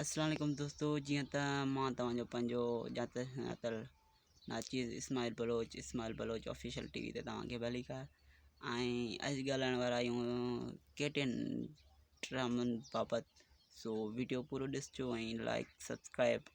السلام عليڪم دوستو جيئن ته مان توهان جو پنهنجو ڄاتل سڃاتل ناچيز Ismail Baloch Ismail Baloch official T V تي توهان کي ڀلي ڪار ۽ اڄ ڳالهائڻ وارا آهيون ڪي ٽين ڊرامن بابت سو ويڊيو پورو ڏسجو ۽ لائڪ سبسڪرائب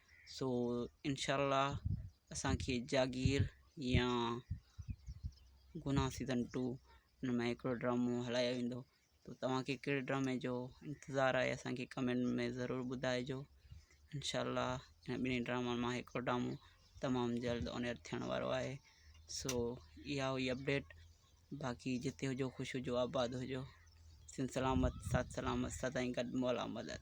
سو انشاء الله اسان کي جاگير يا گناھ سيزن ٽو ان ۾ هڪڙو ڊرامو هلايو ويندو تو توهان کي ڪهڙي ڊرامي جو انتظار آهي اسانکي ڪمينٽ ۾ ضرور ٻڌائجو انشاء الله هن ٻنهي ڊرامن مان هڪڙو ڊرامو تمام جلد آن ايئر ٿيڻ وارو آهي سو اها هئي اپڊيٽ باقي جتي هجو خوش هجو آباد هجو سن سلامت سات سلامت سدائين گڏ مولا مدد